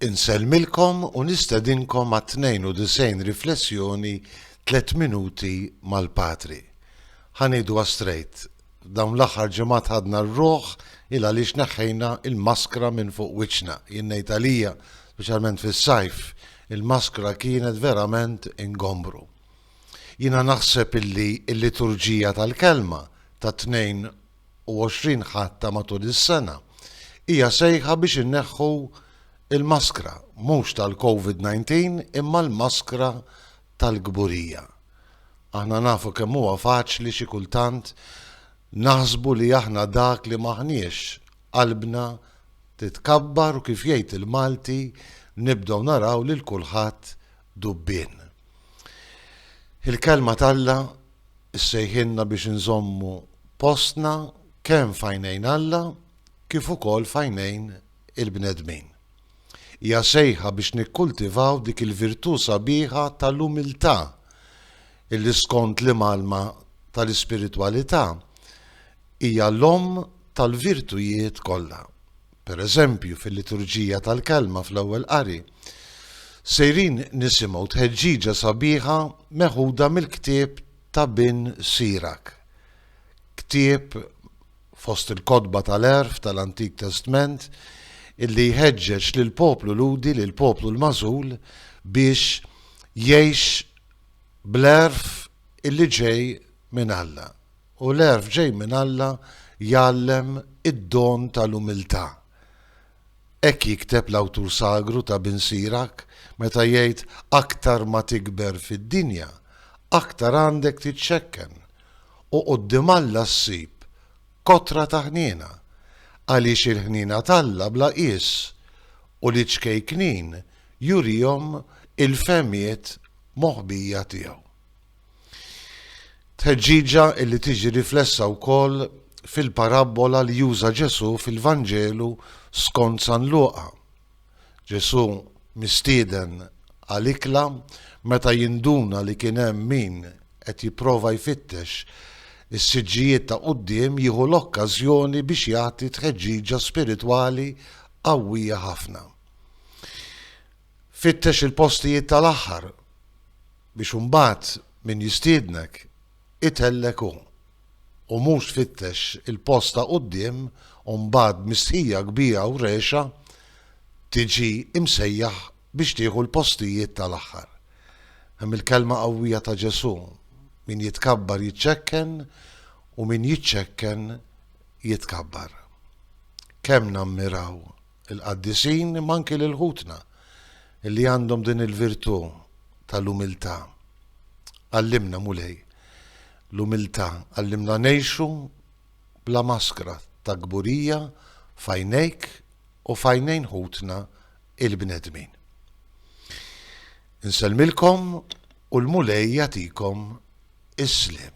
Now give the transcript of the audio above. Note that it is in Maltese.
Insellmilkom u nistedinkom għat-92 riflessjoni Tliet Minuti mal-Patri. Ħa ngħiduha strejt, f'dawn l-aħħar ġimgħat ħadna r-ruħ 'il għaliex neħħejna l-maskra minn fuq wiċċna. Jien ngħid għalija, speċjalment fis-sajf, il-maskra kienet verament ingombru. Jiena naħseb illi l-liturġija tal-Kelma tat-Tnejn u 20 Ħadd ta' matul is-sena hija sejħa biex inneħħu l-maskra, mhux tal-Covid 19 imma l-maskra tal-kburija. Aħna nafu kemm huwa faċli xi kultant naħsbu li aħna dak li m'aħniex, qalbna titkabbar u kif jgħid il-Malti nibdew naraw lil kulħadd dubbien. Il-Kelma t'Alla ssejħilna biex inżommu postna kemm f'għajnejn Alla kif ukoll f'għajnejn il-bnedmin. Hija sejħa biex nikkultivaw dik il-virtù sabiħa tal-umiltà illi skont l-imgħallma tal-ispiritwalità hija l-omm tal-virtujiet kollha. per eżempju fil-Liturġija tal-Kelma fl-Ewwel Qari, sejrin nisimgħu tħeġġiġa sabiħa meħuda mill-ktieb ta' Bin Sirak, ktieb fost il-kotba tal-għerf tal-Antik Testment illi jħeġġeġ lill-poplu Lhudi, lill-poplu l-magħżul, biex jgħix bl-għerf illi ġej minn Alla. U l-għerf ġej minn Alla jgħallem id-don tal-umiltà. Hekk jikteb l-awtur sagru ta' Bin Sirach meta jgħid aktar ma tikber fid-dinja, aktar għandek titxekken u quddiem Alla ssib kotra ta' ħniena, għaliex il-ħniena t'Alla bla qies u l-iċkejknin jurihom il-fehmiet moħbija tiegħu. Tħeġġiġa li tiġi riflessa wkoll fil-parabbola li juża Ġesù fil-Vanġelu skont San Luqa. Ġesù mistieden għal ikla meta jinduna li kien hemm min qed jipprova jfittex is-siġġijiet ta' quddiem jieħu l-okkażjoni biex jagħti tħeġġiġa spiritwali qawwija ħafna. Fittex il-postijiet tal-aħħar biex imbagħad min jistiednek itellgħek hu, u mhux tfittex il-post ta' quddiem u mbagħad b'mistħija kbira u rehxa tiġi msejjaħ biex tieħu l-postijiet tal-aħħar. Hemm il-kelma qawwija ta' Ġesù, Min jitkabbar jiċċekken u min jiċċekken jitkabbar. Kemm nammiraw il-qaddisin imma anki lil ħutna li għandhom din il-virtù tal-umiltà. Għallimna Mulej l-umiltà, għallimna ngħixu bla maskra ta' kburija fajnejk u fajnejn ħutna il-bnedmin. Insellmilkom u l-Mulej jatikom is-slim.